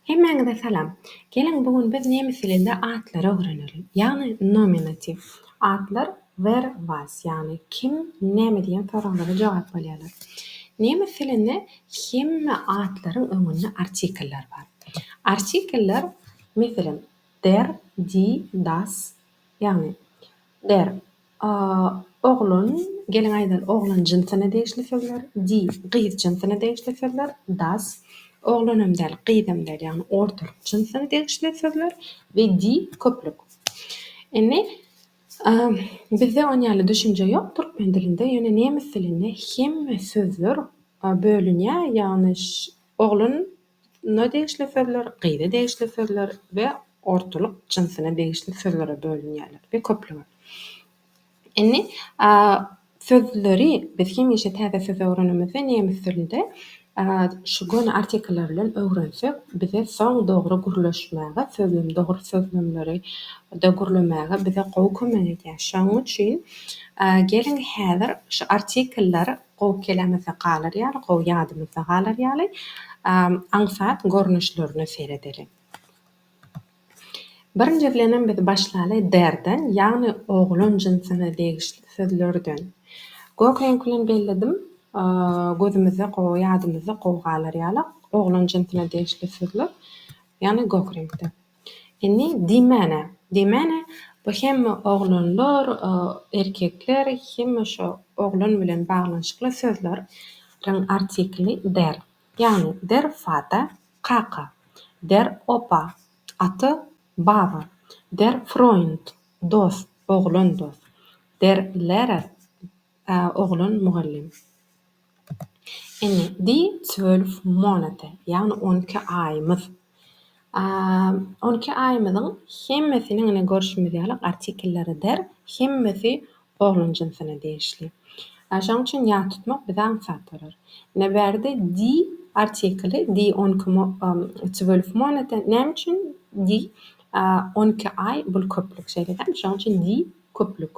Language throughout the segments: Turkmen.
Hemmäňize salam. Geliň bu gün biz nemes dilinde atlary öwrenelim. Ýagny nominatiw. Atlar wer, was, ýagny kim, näme diýen soraglara jogap bolýarlar. Nemes dilinde hemme atlaryň öňünde artikeller bar. Artikeller, meselem, der, die, das, ýagny der, A oglan, geliň aýdaly, oglan jynsyna degişli sözler, di, gyz jynsyna degişli sözler, das, oglanam däl, gyzam däl, ýagny ortaryk jynsyna degişli sözler we di, köplük. Indi, a, bizde on ýaly düşünje ýok türkmen dilinde, ýöne nemes dilinde hemme sözler bölünýär, ýagny, ş, oglan, Üstüne degişli sözler, gyza degişli sözler we ortalyk jynsyna degişli sözlere bölünýärler we köplige. Indi sözleri biz hemişe täze söz öwrenemizde nemes dilinde şu göni artikllar bilen öwrensek bize soň dogry gürleşmäge sözlem dogry sözlemleri de gürlemäge bize gowy kömek edýär. Şonuň üçin geliň häzir şu artikllar gowy kelamyzda galar ýaly, gowy ýadymyzda galar ýaly aňsat görnüşlerine seredeliň. Birinji bilenem biz başlaly derden, ýagny oglan jynsyna degişli sözlerden. Gök reňk bilen belledim, gözümizde gowy, ýadymyzda gowy galar ýaly oglan jynsyna degişli sözler, ýagny gök reňkde. Indi diýmäne, diýmäne, bu hemme oglanlar, erkekler, hemme şo oglan bilen baglanyşykly sözler riň artikli der. Ýagny, der Fata, kaka, der Opa, ata, baba, der Froýnd, dost, oglan dost, der Lera, Ä oglan mugallym. Ine, di zwölf monate, ýagny on iki aýymyz. Ä on iki aýymyzyň hemmesiniň ine görşümiz ýaly artikellary der, hemmesi oglan jynsyna degişli. Ä şoň üçin ýat tutmak bize aňsat bolar. Ine bärde di artikeli, di on iki mo zwölf monate, näme üçin di? Ä on iki aý bul köplük, şeýle däl? Şoň üçin di köplük.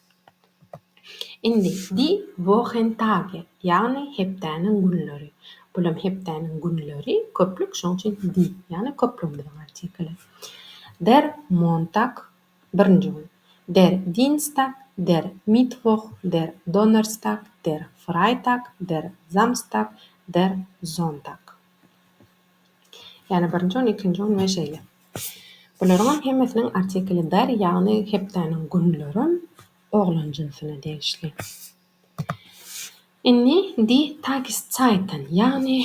Indi Die Wochentage, ýagny Hepdäniň günleri. Bulam Hepdäniň günleri, köplük, şonuň üçin die, ýagny köplügimiziň artikeli. Der Montag, birinji gün. Der Dienstag, der Mittwoch, der Donnerstag, der Freitag, der Samstag, der Sonntag. Ýagny birinji gün, ikinji gün we şeýle. Bularyňam hemmesiniň artikli bar, ýagny hepdäniň günlerem oglan jynsyna degişli. Indi Die Tageszeiten, ýagny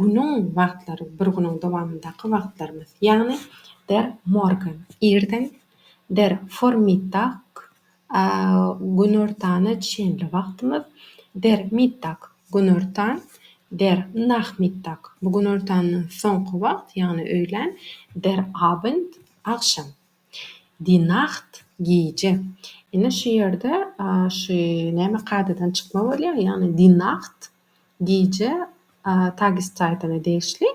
günüň wagtlary, bir günüň dowamyndaky wagtlarymyz, ýagny Der Morgen, irden, Der Vormittag, Günortana çenli wagtymyz, Der Mittag, günortan, Der Nachmittag, bu günortandan soňky wagt, ýagny öýlän, Der Abend, agşam, Die Nacht, gije. Ine şu ýerde şu näme kadadan çykma bolýar, ýagny Die Nacht, gije, Tageszeitene degişli,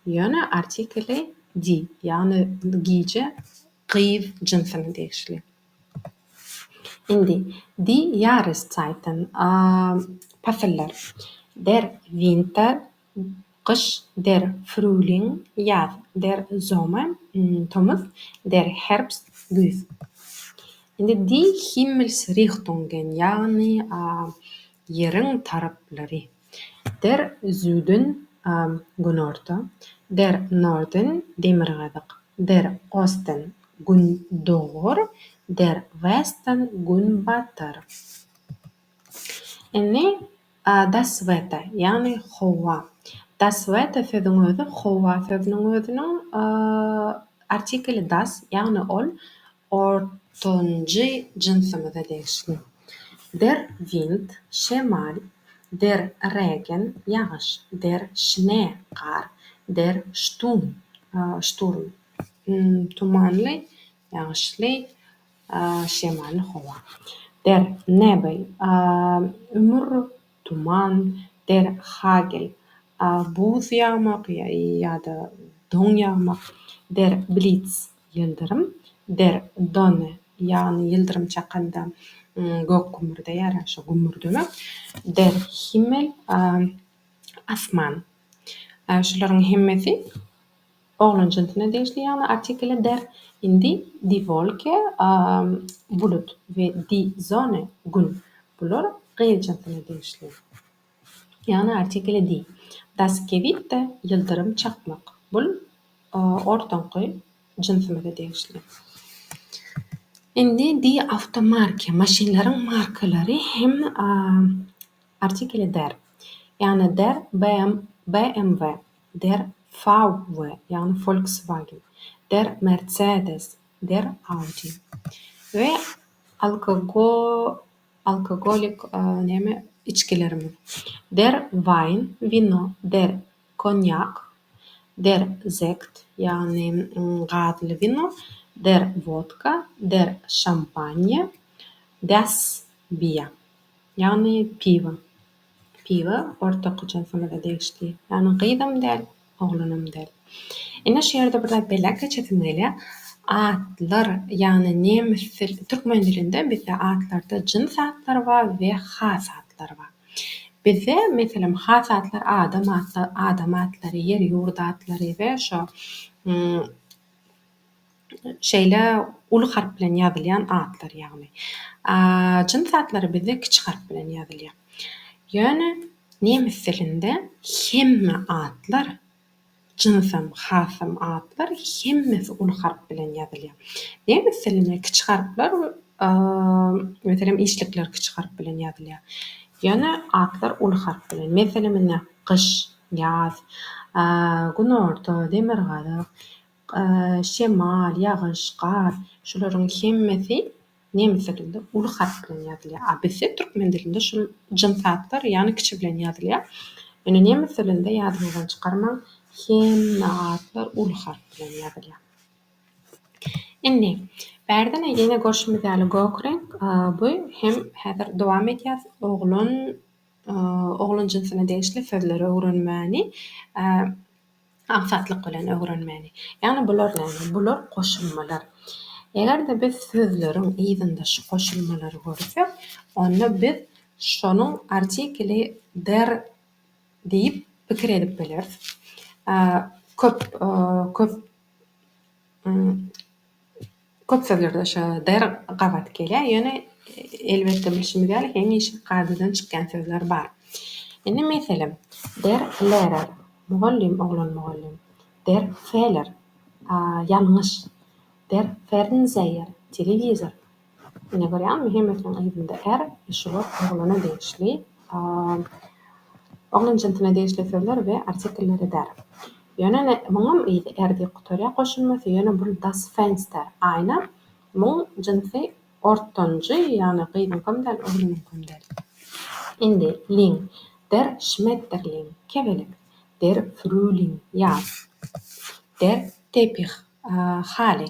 ýöne artikeli die, ýagny gije gyz jynsyna degişli. Indi, Die Jahreszeiten, pasyllar, Der Winter, gyş, Der Frühling, ýaz, Der Sommer, tomus, Der Herbst, güýz. Indi, Die Himmelsrichtungen, ýagny Ýeriň taraplary. Der Süden, günorta, der Norden, demirgazyk, der Osten, gündogar, der Westen, günbatar. Indi Das Wetter, ýagny howa. Das Wetter sözüň özi howa sözüniň özüniň artikeli das, ýagny ol Ortanjy jynsymyza degişli. Der Wind, şemal, der Regen, ýagyş, der Schnee, gar, der Stum, şturm, tumanly, ýagyşly, şemally howa, der Nebel, ümür, tuman, der Hagel, buz ýagmak ýa-da don ýagmak, der Blitz, Ýyldyrym, der done, ýagny ýyldyrym çakanda gök gümmürdeýär, ýa şo gümmürdeme. Der Himmel, asman. Şularyň hemmesi oglan jynsyna degişli, ýagny artikele der. Indi die Wolke, bulut, we die Sonne, Gün. Bular gyz jynsyna degişli. Ýagny artikeli diý. Daskewitda ýyldyrym çakmak. Bul ortaňky jynsymyza degişli. Indi diý awtomarka. Maşynlaryň markalary hem artikeli der. Ýagny der BMW, der VW, ýagny Volkswagen, der Mercedes, der Audi. We alkogol. Alkogolik neme içgilerimi. Der Wein, wino, der Konýak, der Sekt, ýagny gazly wino, der Wodka, der Şampanje, das Bier, ýagny piwo. Piwa ortaky jynsymyza degişli. Ýagny gyzam däl, oglanam däl. Ine şu ýerde bir zat belläp geçesim gelýär. Atlar, ýagny nemes dil, türkmen dilinde bizde atlarda jyns atlar bar we has atlar bar. Bizde, meselem, has atlar adam atlar, adam atlary, ýer-ýurt atlary we şo Şeýle uly harp bilen ýazylýan atlar ýagny. A jyns atlary bizde kiçi harp bilen ýazylýar. Ýöne nemes dilinde hemme atlar, jynsam, hasam atlar hemmesi uly harp bilen ýazylýar. Nemes dilinde kiçi harplar meselem işlikler kiçi harp bilen ýazylýar. Ýöne atlar uly harp bilen. Meselem ine, gyş, ýaz, günorta, demirgazyk. şemal, ýagyş, gar, şularyň hemmesi nemes dilinde uly harp bilen ýazylýar. A bizde türkmen dilinde şul jyns atlar ýagny kiçi bilen ýazylýar. Ýöne nemes dilinde ýadyňyzdan çykarmaň, hemme atlar uly harp bilen ýazylýar. Indi, bärde-ne ýene görşümiz ýaly gök reňk, bu hem häzir dowam edýäs, oglan, oglan jynsyna degişli sözleri öwrenmäni. Aňsatlyk bilen öwrenmeli. Ýagny bular näme? Bular goşulmalar. Eger-de biz sözleriň yzynda şu goşulmalary görsek, onda biz şonuň artikeli der diýip pikir edip bileris. Köp, köp. Köp sözlerde şo der gabat gelýär. Ýöne elbetde bilşimiz ýaly hemişe kadadan çykýan sözler bar. Indi meselem, der lerer, mugallym, oglan mugallym, der feler, ýalňyş, der fernseýer, telewizor, Ine görýäňmi hemmesiniň yzynda är e şular oglana degişli a oglan jynsuna degişli sözler we artikeller edär. Ýöne ine muňam yzy är diýip gutarýar goşulmasy ýöne bul das Fenster aýna muň jynsy ortanjy ýagny gyzyňkam däl oglanyňkam däl. Indi Ling der Schmetterling kebelek der Frühling ýaz der Teppich haly.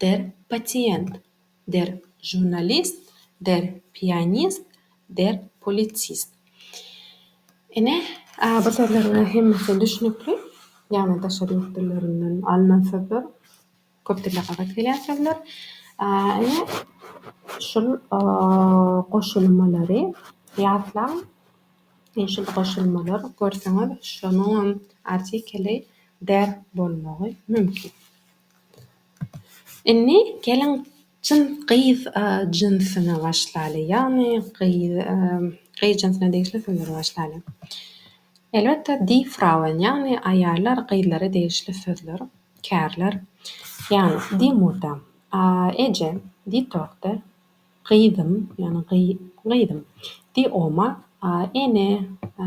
der pasiýent, der žurnalist, der pianist, der politsist. Ine, bu sözleriň hemmesi düşnükli, ýagny daşary ýurt dillerinden alnan sözler, köp dilde gabat gelýän sözler. Ine, şul goşulmalary ýatlaň. Ine, şul goşulmalar, görseňiz, şonuňam artikeli der bolmagy mümkin. Indi geliň çyn gyz jynsyna başlaly, ýagny gyz gyz jynsyna degişli sözleri başlaly. Elbetde die Frauen ýagny aýallar, gyzlara degişli sözler, kärler. Ýagny die Mutter, eje, die Tochter, Gyzym, ýagny gyzym, di oma, a ene, a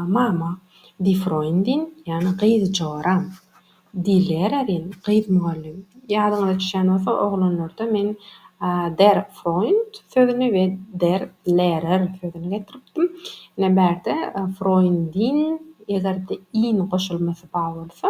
mama, di Froýndin, ýagny gyz joram, di Lererin, gyz mugallym. Ýadyňyza düşýän bolsa, oglanlarda men der Froýnd sözüni we der Lerer sözüni getiripdim. Ine, bärde Froýndin, eger-de in goşulmasy ba bolsa.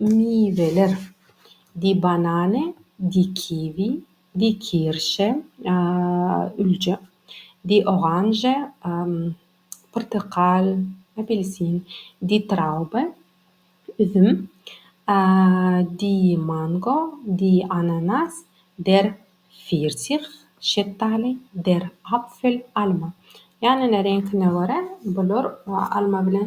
Miweler, di banane, di kiwi, di kirşe, ülje, di oranže, pyrtykal, apelsin, di traube, üzüm, di mango, di ananas, der firsih, şetdaly, der apfel, alma. Ýanyna reňkine görä bular alma bilen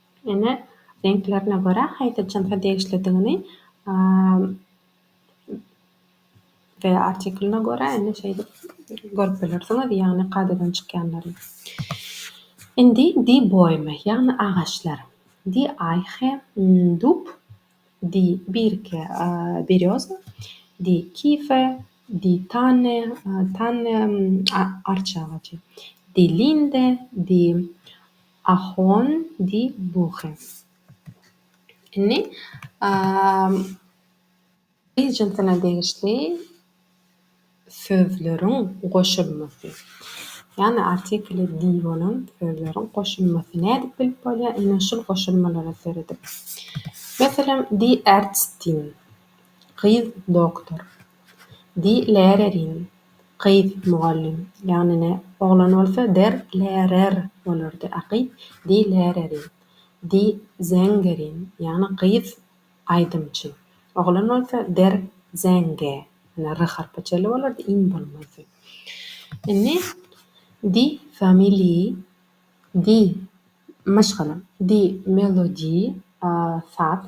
Ene reňklerine görä haýsy jynsa degişlidigini we artikulyna görä indi şeýdip görüp bilersiňiz, ýagny kadadan çykýanlary. Indi di boýmy, ýagny agaçlar. Di eýhe, dub, di birke, berýoza, di kife, di tanne, tanne, arça agajy, di linde, di, Ahon di Buchens. Indi I jynsyna degişli sözleriň goşulmasy, ýagny artikle di bolan sözleriň goşulmasy nädip bilip bolýar? Ine şul goşulmalara seredip. Meselem, di Ärztin, gyz doktor. Di lärerin. Gyz, mugallym, ýagny-ne, oglan bolsa der lärer bolardy, a gyz, di lärerin. Di zängerin, ýagny gyz, aýdymçy, oglan bolsa der zänge, ýagny r harpy çenli bolardy, in bolmazdy. Indi di famili, di, maşgala, di melodi, saz.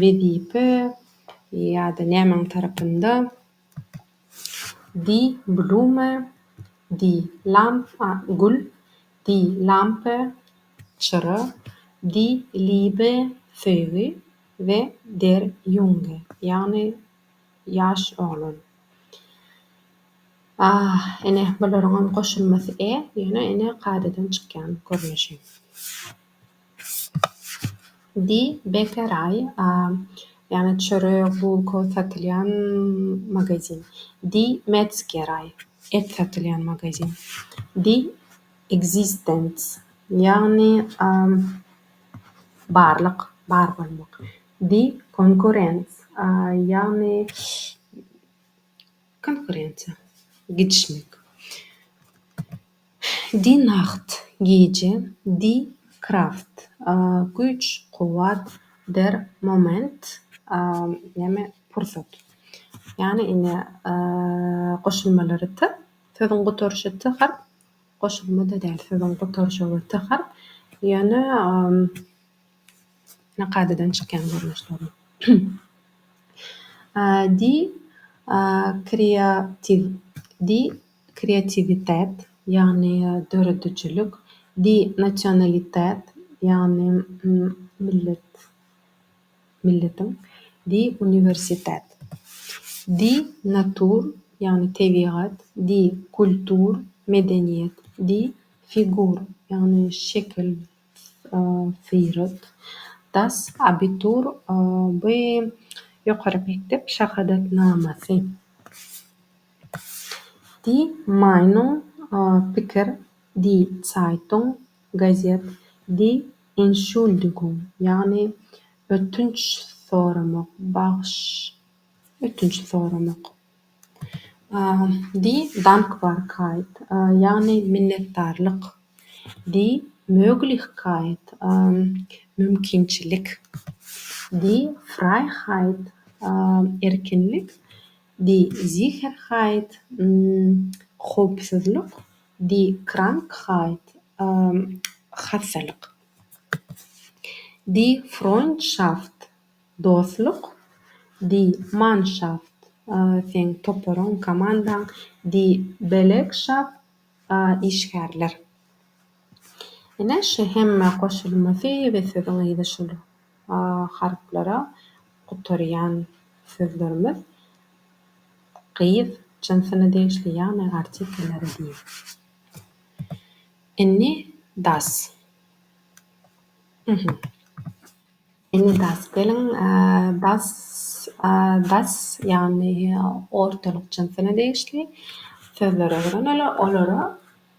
wezipe ýa-da nämäň tarapynda die Blume die Lampe gül die Lampe çyra die Liebe söýgi we der Junge ýagny ýaş oglan ine bularyňam goşulmasy e ýöne ine kadadan çykýan görnüşi. Di Bekeray, ýagny çörek, bulka satylýan magazin. Di Metzgerei, et satylýan magazin. Di Existenz, ýagny barlyk, bar bolmak. Di Konkurrenz, ýagny konkurensiýa, gidişmek. Die Nacht, Gije, Die Kraft, Güýç, kuwwat, Der Moment, näme, pursat. Ýagny indi goşulmalary t, sözüň gutaryşy t harp, goşulma-da däl, sözüň gutaryşygy t harp, ýöne kadadan çykýan görnüşleri. Die Kreativ, Die. kreatiwitet, ýagny döredijilik, di, nasionalitet, ýagny millet, milletiň, di, uniwersitet, di, natur, ýagny tebigat, di, kultur, medeniýet, di, figur, ýagny şekil, syrat, das, abitur, bu ýokary mekdep şahadatnamasy. Die Meinung, Pikir, Die Zeitung, Gazet, Die Entschuldigung, ýagny ötünç soramak, bagyş, ötünç soramak, Die Dankbarkeit, ýagny minnetdarlyk, Die Möglichkeit, mümkinçilik, Die Freiheit, erkinlik, Die Sicherheit, Howpsuzlyk, Die Krankheit, Hassalyk, Die Freundschaft, Dostluk, Die Mannschaft, Seň toparyň, komandaň, Die Belegschaft, Işgärler. Ine, şu hemme goşulmasy we sözüň yzy şular. A harplara gutarýan sözlerimiz gyz jynsyna degişli, ýagny artikellere diýip. Inni das. Uhumm. Inni das. Geliň, das, das, ýagny ortalyk jynsyna degişli sözleri öwreneler. Olara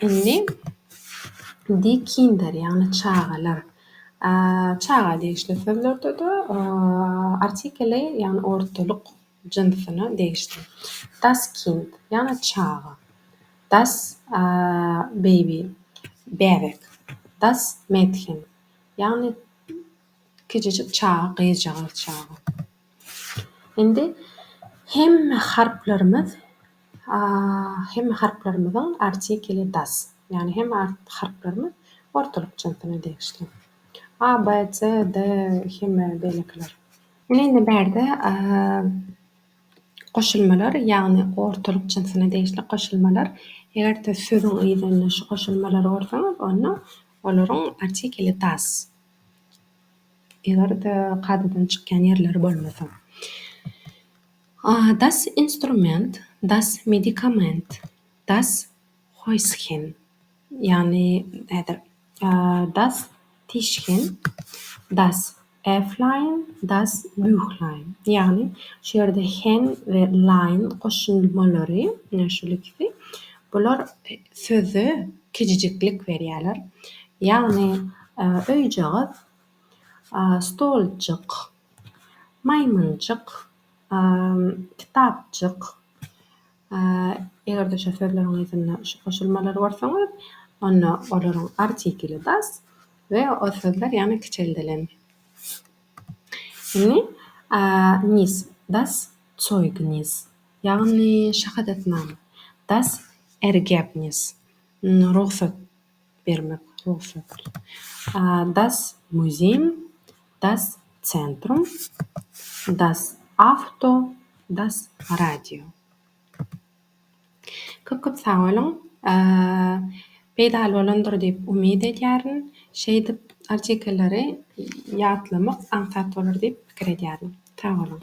Indi Di kinder, ýagny çagalar, çaga degişli sözlerde-de artikeli, ýagny ortalyk jynsyna degişli. Das Kind, ýagny çaga. Das Baby, bäbek. Das Mädchen, ýagny kiçijik çaga, gyzjagaz çaga. Indi hemme harplarymyz hemme harplarymyzyň artikeli das, ýagny hemme harplarymyz ortalyk jynsyna degişli. A, B, C, D, hemme beýlekiler. Ine indi bärde goşulmalar, ýagny ortalyk jynsyna degişli goşulmalar. Eger-de sözüň yzynda şu goşulmalary görseňiz, onda olaryň artikeli das. Eger-de kadadan çykýan ýerleri bolmasa. Das Instrument, das Medikament, das Häuschen, ýagny häzir das Tischchen, das Äfflein, das Büchlein, ýagny şu ýerde hen we lein goşulmalary, ine şol ikisi, bular söze kiçijiklik berýärler. Ýagny öýjagaz Stoljyk, maýmynjyk, kitapjyk, eger-de şu sözleriň yzynda şu goşulmalary görseňiz, onda olaryň artikeli das we o sözler ýaňy kiçeldilen. Indi, nis, das Zeugnis, ýagny şahadatnama, das Ergebnis, rugsat. bermek rugsat. A Das Museum, Das Zentrum, Das Auto, Das Radio. Köp köp sag boluň. Peýdaly bolandyr diýip umyt edýärin. Şeýdip artikelleri ýatlamak aňsat bolar diýip pikir edýärin. Sag boluň.